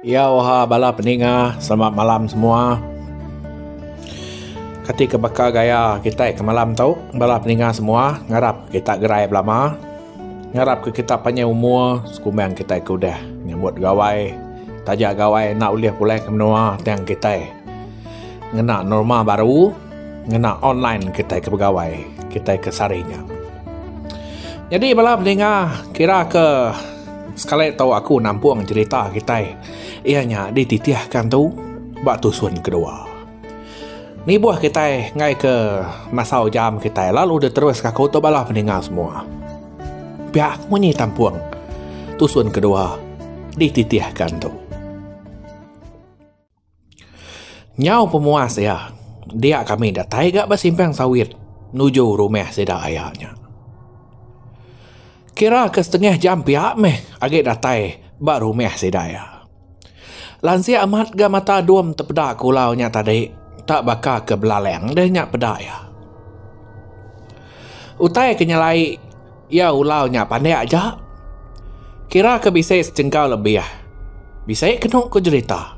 Iya oha bala peninga selamat malam semua. Kati ke baka gaya kita ke malam tu bala peninga semua ngarap kita gerai belama. Ngarap ke kita panjang umur sekumbang kita ke udah nyambut gawai. Taja gawai enda ulih pulai ke menua tang kita. Ngena norma baru, ngena online kitai ke begawai, kitai ke sehari nya. Nyadi bala peninga kira ke sekali tu aku nampung cerita kitai iya nya dititihkan tu ba tusun kedua. Nibuh kitai ngaika masa ujam kitai lalu diterus aku tu bala peninga semua. Pia aku munyi tampung tusun kedua dititihkan tu. Nyau pemuas iya, dia kami datai ga ba simpang sawit nuju rumah sida aya nya. Kira ke setengah jam pia meh agi datai ba rumah sida iya. Lansik amat ga mata dom tepeda kulau nya tadi ta baka ke belalang deh nya peda iya. Utai ke nyelai. Iya ulau nya pandik aja. Kira ke bisi sejengkau lebih. Bisi kenu ku jerita.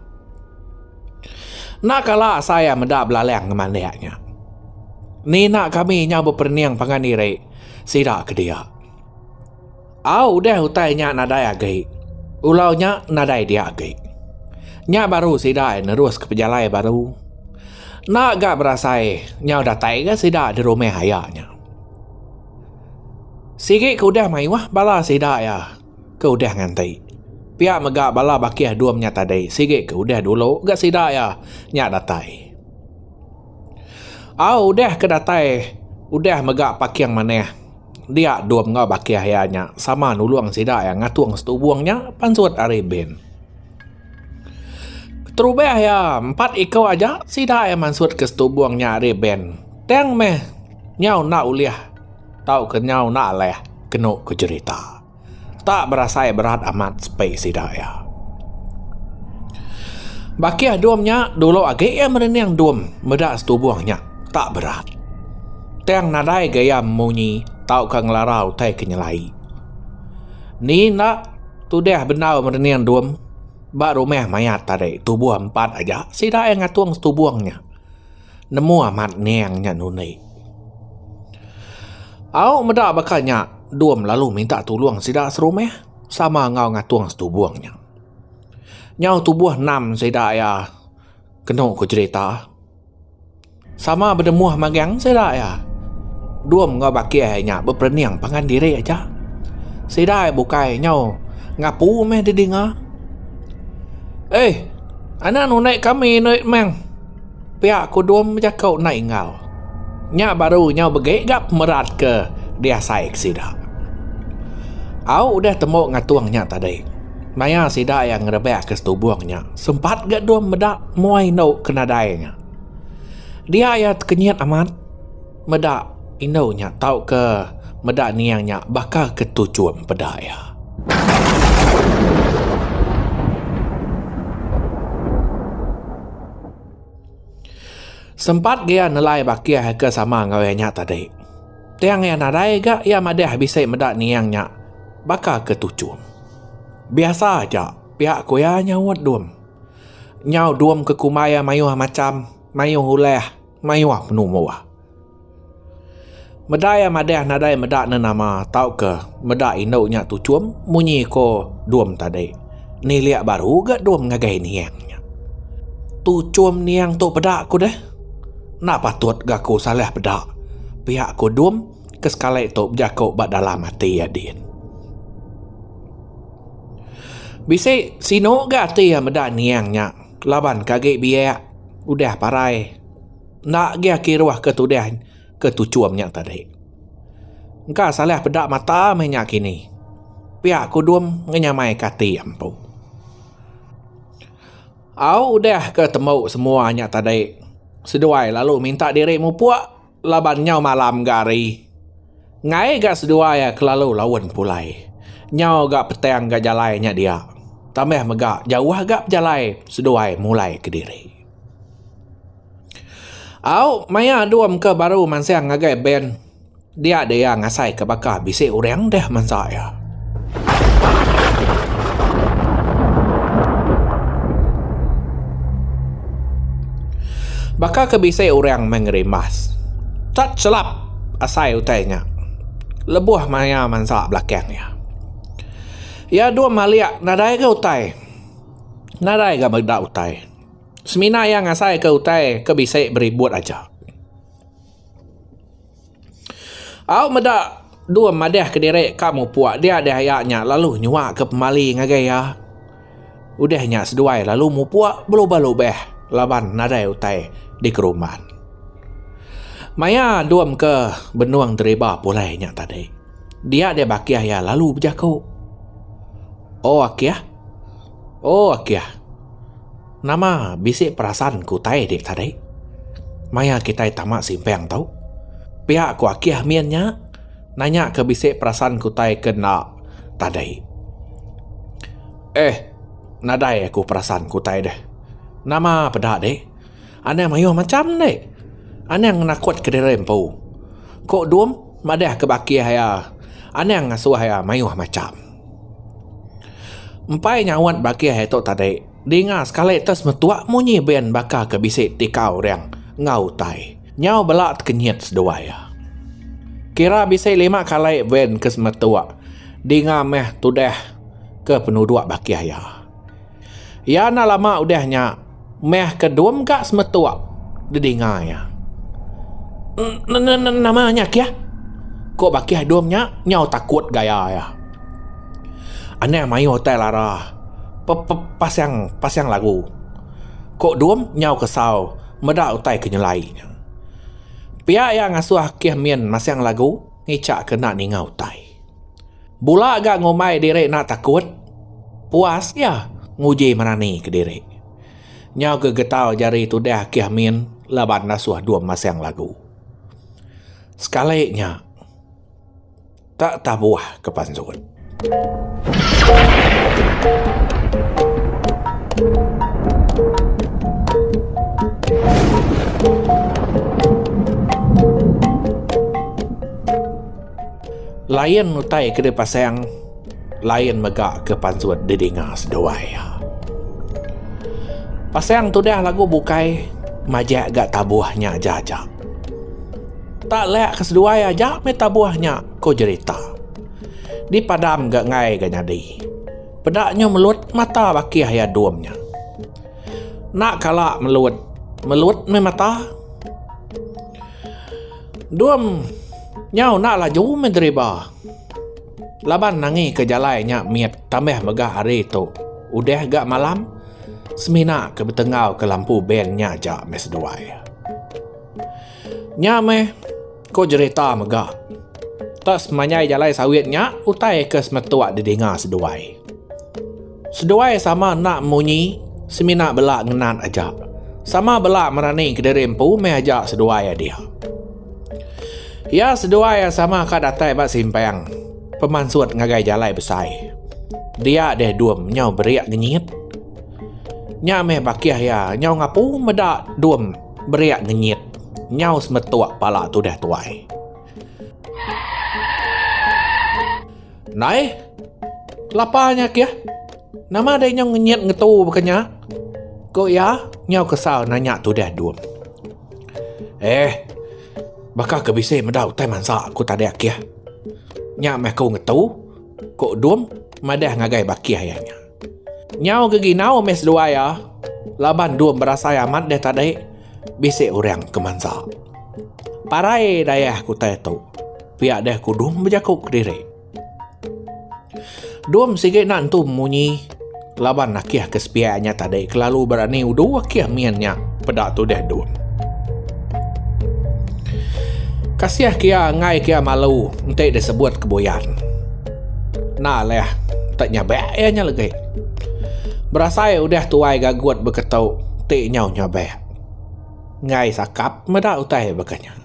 Enda kala asai iya meda belalang ngemandik nya. Nina kami nyau beperening pangan diri sida ke dia. Au udah utai nya nadai agi, ulau nya nadai dia agi. Nya baru sida iya neruska pejalai baru. Enda ga berasai nyau datai ga sida di rumah iya nya. Sigi ke udah mayuh bala sida iya ke udah nganti. Pia mega bala bakih dua menya tadi sigi ke udah dulu gak sida iya nya datai. Au udah ke datai udah mega paking manah dia dua menua bakih iya nya sama nulung sida iya ngatung setubung nya pansut ari bin. Keterubah iya empat iku aja sida iya mansut ke setubung nya ari bank. Tang meh nyau enda ulih tauka nyau enda alih kenu ku jerita. Enda berasai berat amat sepi sida iya. Bakih dom nya dulu agi iya merening dom meda setubung nya enda berat. Tang nadai ga iya memunyi tauka ngelara utai ke nyelai. Ni enda tudah bendar merening dom ba rumah mayat tadi tubuh empat aja sida iya ngatung setubung nya nemu amat ning nya ngundi au meda baka nya dom lalu minta tulung sida serumah sama enggau ngatung setubung nya nyau tubuh enam sida iya kenu ku cerita. Sama bedemuh magang sida iya. Dum enggau baki iya nya beperening pangan diri aja. Sida iya bukai nyau ngapu meh didinga. Ei, anak unoi kami doi meng. Pia ku Dum bejako enda ingau. Nya baru nyau begi ga pemerat ke diasai ke sida. Au udah tembu ngatung nya tadi. Maya sida iya ngerebak ke setubung nya, sempat ga dom meda muai indu ke nadai nya. Dia iya tekenyit amat meda indu nya tauka meda niang nya baka ke tuchum peda iya. Sempat ga iya nelai bakih ke sama enggau iya nya tadi. Tang iya nadai ga iya madah bisi meda niang nya baka ke tuchum. Biasa aja pia ku iya nyaut dum. Nyau dum ke kumbai iya mayuh macham, mayuh ulih, mayuh penumbuh. Meda iya madah nadai meda ne nama tauka meda indu nya tuchum munyi ko dum tadi. Nilik baru uga dum ngagai niang nya. Tuchum niang tu peda ku deh. Enda patut ga ku salah peda, pia ku dum. ke sekali tu bejaku ba dalam ati iya din. Bisi sinu ga ati iya meda niang nya laban ke agi biak udah parai enda agi kiruh ke tudah ke tuchum nya tadi. Engka salah peda mata meh nya kini. Pia kudum ngenyamai ke ati iya empu. Au udah ke tembu semua nya tadi seduai lalu minta diri mupuk Laban nyau malam ga hari. Ngai ga seduai a kelalu laun pulai. Nyau ga petang ga jalai nya dia. Tambah mega jauh ga pejalai seduai mulai kediri. Au maya dom ke baru mansang ngagai bank dia dia ngasai ke baka bisi orang deh mansa iya. Baka ke bisi orang meh ngerimbas. Tat chelap asai utai nya lebuh maya mansa belakang iya. Iya dum alik nadai ga utai. Nadai ga meda utai. Semina iya ngasaika utai ke bisi beribut aja. Au meda dua madah kediri ka mupuk dia deh aya nya lalu nyua ke pemali ngagai iya. Udah nya seduai lalu mupuk belubah lubah laban nadai utai dikeruman. Maya dum ke benung deriba pulai nya tadi dia deh bakih iya lalu bejaku. O akih. O akih. Nama bisi perasan ke utai dik tadi? Maya kitai tama simpang tu. Pia ku Akih min nya nanya ke bisi perasan ke utai ke enda tadi. Eh, nadai aku perasan ke utai deh. Nama peda dik? Anang mayuh macham dik. Anang ngenakut ke diri empu. Ku Dum madah ke ba Akih iya, Anang ngasuh iya mayuh macham. Empai nyaut ba Akih iya tu tadi. Dinga sekali te semetua munyi ben baka ke bisi ti ka orang enggau utai. Nyau bela tekenyit seduai iya. Kira bisi lima kali ben ke semetua dinga meh tudah ke penuduk bakih iya. Iya enda lama udah nya meh ke dua mega semetua didinga iya. N n n nama nya kih? ku bakih dum nya nyau takut gaya iya. Anang mayuh utai lara. Pepepasang pasang lagu. Ko dum nyau kesau meda utai ke nyelai nya. Pia iya ngasuh akih min masang lagu ngichak ke enda ninga utai. Bula ga ngumbai diri enda takut puas iya nguji merani kediri. Nyau ke getau jari tudah akih min laban ngasuh dum masang lagu. Sekali nya. Ka tabuh ke pansut. Lain utai ke dipasang, lain mega ke pansut didinga seduai. Pasang tudah lagu bukai majak ga tabuh nya aja aja. Tak lek ke seduai aja meh tabuh nya, ku jerita. Dipadam ga enggai ga nyadi. Peda nyu melut mata bakih iya dum nya. Enda kala melut, melut meh mata. Dum nyau enda laju meh deriba. Laban angi ke jalai nya mit tambah mega hari tu udah ga malam semina ke betenggau ke lampu ben nya aja meh seduai. Nya meh, ko jerita mega. Tak semanjai jalai sawit nya utai ke semetok didinga seduai. Seduai sama enda munyi semina bela ngenat aja. Sama bela merani kediri empu meh aja seduai adik. Iya seduai iya sama ka datai ba simpang pemansut ngagai jalai besai. Dia deh dum nyau berik ngenyit. Nya meh bakih iya nyau ngapu meda dum. Beriak ngenyit. Nyau semetuk pala tudah tuai. Nai. Kelapa nya kia. Nama dai nyau ngenyit ngetu baka nya? Ko iya nyau kesal nanya tudah dum. Eh. Baka ke bisi meda utai mansa aku tadi akih. Nya meh aku ngetu. Ko dum madah ngagai bakih iya nya. Nyau ke ginau meh seduai iya laban dua berasai amat deh tadi bisi orang ke mansa. Parai dayah ke utai tu pia deh ku Dum bejaku kediri. Dum sigi enda nentu munyi laban akih ke sepiak nya tadi kelalu berani udu akih min nya peda tudih Dum. Kasih ke iya enggai ke iya malu enti disebut ke buyan. Enda leh, tek nyabek iya nya legi. Berasai udah tuai gagut beketu ti nyau nyabek. Enggai sakap meda utai baka nya.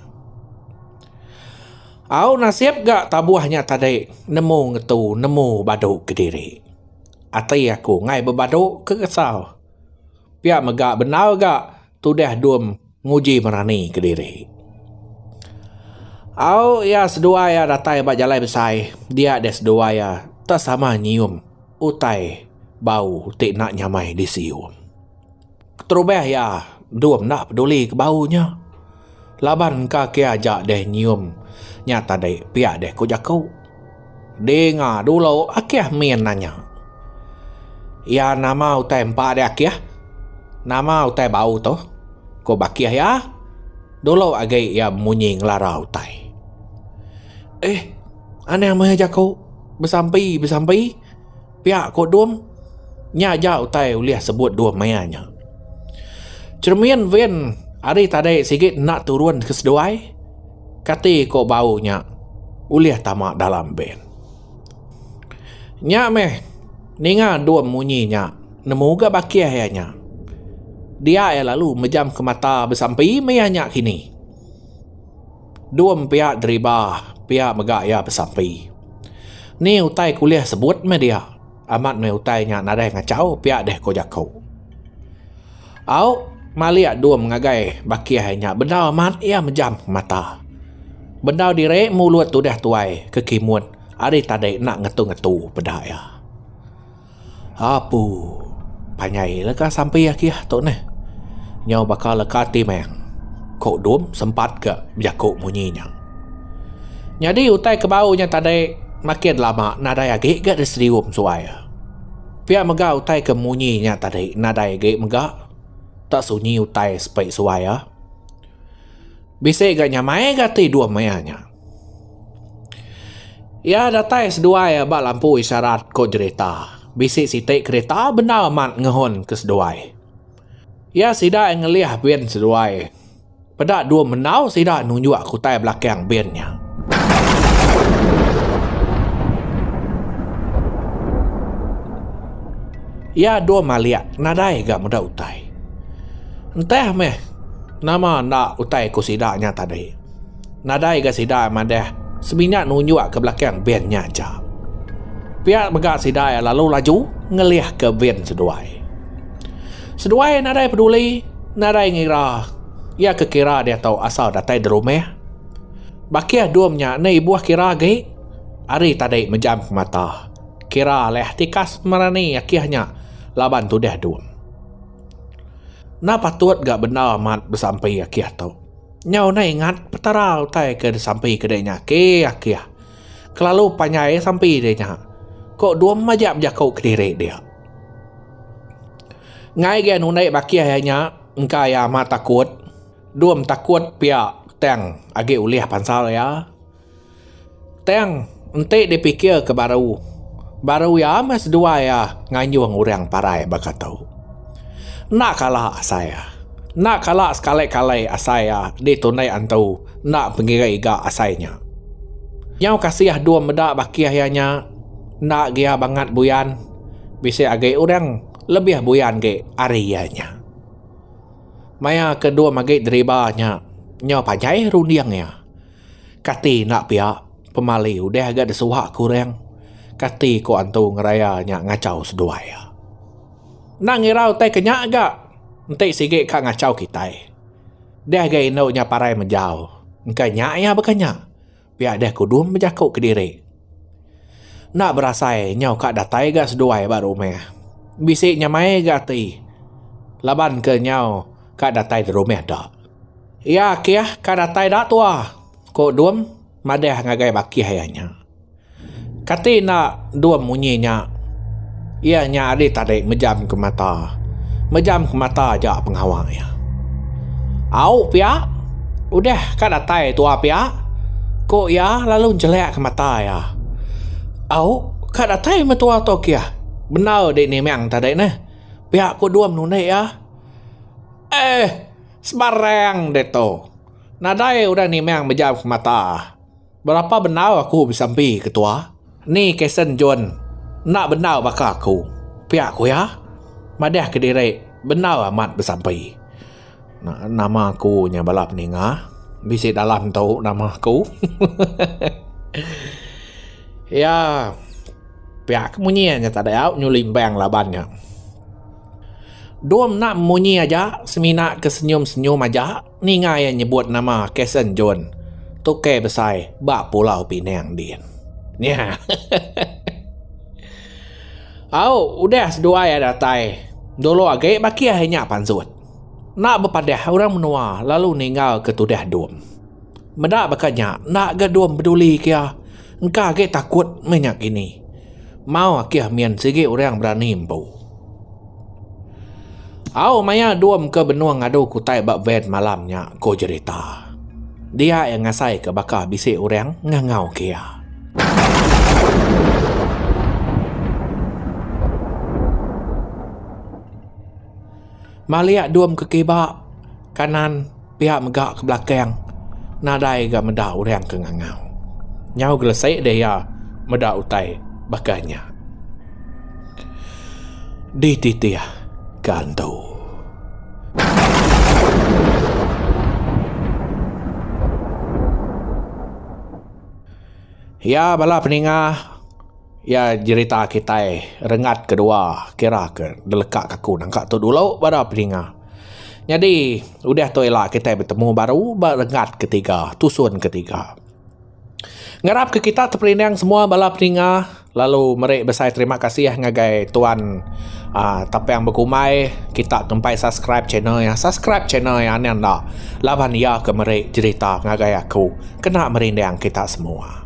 Au nasib ga tabuh nya tadi nemu ngetu nemu badu kediri. Ati aku enggai bebadu ke kesau. Pia mega bendar ga. tudah dum nguji merani kediri. Au iya seduai iya datai ba jalai besai dia deh seduai iya tak sama nyium utai bau ti enda nyamai disium. Keterubah iya dum enda peduli ke bau nya. Laban engka ke aja deh nyium nya tadi pia deh ku jaku. Dinga dulu Akih min nanya. Iya nama utai empa deh Akih? Nama utai bau tu? ku bakih iya. Dulu agi iya bemunyi ngelara utai. Eeh anang meh jaku besampi besampi. Pia ko Dum, nya aja utai ulih sebut Dum maya nya. Cheremin Vin ari tadi sigi enda turun ke seduai, kati ko bau nya ulih tama dalam ben. Nya meh ninga Dum munyi nya, nemu ga bakih iya nya. Dia iya lalu mejamka mata besampi maya nya kini. Dua mpiak deriba pia mega iya besampi. Ni utai ke ulih sebut meh dia amat meh utai nya nadai ngachau pia deh ko jaku. Au malik dum ngagai bakih nya bendar amat iya mejam mata. Bendar diri mulut udah tuai ke kimut ari tadi enda ngetu-ngetu peda iya. Apu. Panjai leka sampi aki ah tu neh. Nyau baka leka ti meh. Ko dom sempat ke bejaku munyi nya. Nyadi utai ke bau nya tadi makin lama nadai agi ga disedium suai. Pia mega utai ke munyi nya tadi nadai agi mega tak sunyi utai sepi suai ah. Bisi ga nyamai ga ti dom iya nya. Iya datai seduai ba lampu isyarat ko jerita. Bisi siti kerita bendar amat ngehon ke seduai. Iya sida ngelih bin seduai. Peda dua mendau sida nunjuk ke utai belakang bin nya. Iya dua malik nadai ga meda utai. Entah meh nama enda utai ko sida nya tadi. Nadai ga sida madah semina nunjuk ke belakang van nya aja. Pia mega sida lalu laju ngelih ke van seduai. Seduai nadai peduli, nadai ngira iya ke kira diatu asal datai derumah. Bakih dom nya enda ibuh kira agi ari tadi mejam ke mata kira alih tikas merani akih nya laban tudah dom. Enda patut ga bendar amat besampi akih tu. Nyau neh ingat Petara utai ke disampi ke deh nya keh akih. Kelalu panjai sampi deh nya. Ko dua majak bejaku kediri dia. Ngai gian undi bakih iya nya engka iya amat takut. Dua takut pia tang agi ulih pansal iya. Tang enti dipikirka baru, baru iya meh seduai iya nganjung orang parai baka tu. Enda kala asai iya. Enda kala sekali-kali asai iya ditunde antu enda pengira iga asai nya. Nyau kasih dua meda bakih iya nya enda gia bangat buyan bisi agi orang lebih buyan agi ari iya nya. Maya ke dua magi deriba nya nyau panjai runding iya. Kati enda pia, pemali udah ga disuha ke orang. Kati ko antu ngeraya nya ngachau seduai. Enda ngira utai ke nya ga enti sigi ka ngachau kitai. Deh ga indu nya parai menjau, engka nya iya baka nya. Pia deh kudum bejaku kediri. Enda berasai nyau ka datai ga seduai ba rumah. Bisi nyamai ga ati laban ke nyau ka datai da rumah da. Iya akih ka datai da tua, ku Dum madah ngagai bakih iya nya. Kati enda Dum munyi nya? Iya nya ari tadi mejamka mata. Mejamka mata aja pengawa iya. Au pia udah ka datai tuwa pia, ku iya lalu njelekka mata iya. Au ka datai meh tuwa tu kieh. Bendar di Nimeng tadi neh. Pia ku Dung nunik iya. Eh sebarang ditu. Nadai orang Nimeng mejamka mata. Berapa bendar aku besampi ke tua, ni Kason John enda bendar baka aku, pia ku iya madah ke diri bendar amat besampi. Nama aku nya bala peninga bisi dalam tu nama aku. Iya pia ke munyi iya nyata dau nyuli embang laban nya. Dom enda munyi aja semina ke senyum-senyum aja. ninga iya nyebut nama Kason John, tukei besai ba Pulau Pinang din. Nya. Au, udah seduai iya datai. Dulu agi bakih iya nya pansut. Enda bepadah orang menua lalu ninggalka tudah dom. Meda baka nya enda ga dom pedulika iya. Engka agi takut meh nya kini. Mau akih min sigi orang berani empu. Au maya dom ke benung ngadu ke utai ba van malam nya ko jerita. Dia iya ngasai ke baka bisi orang ngangau ke iya. Malik dom ke kiba kanan. Pia mega ke belakang nadai ga meda orang ke ngangau. Nyau gelesi deh iya meda utai baka nya. Dititih ke antu. Iya bala peninga. Iya jerita kitai rengat ke dua kira ke deleka ke aku nangka tu dulu bala peninga. Nyadi udah tu ila kitai betemu baru ba rengat ke tiga tusun ke tiga. Ngarap ke kita teperindang semua bala peninga lalu meri besai terima kasih ngagai tuan aaa Tapang Bekumai kita ngempai subscribe channel iya. Subscribe channel iya nih enda laban iya ke meri jerita ngagai aku kena merindang kita semua.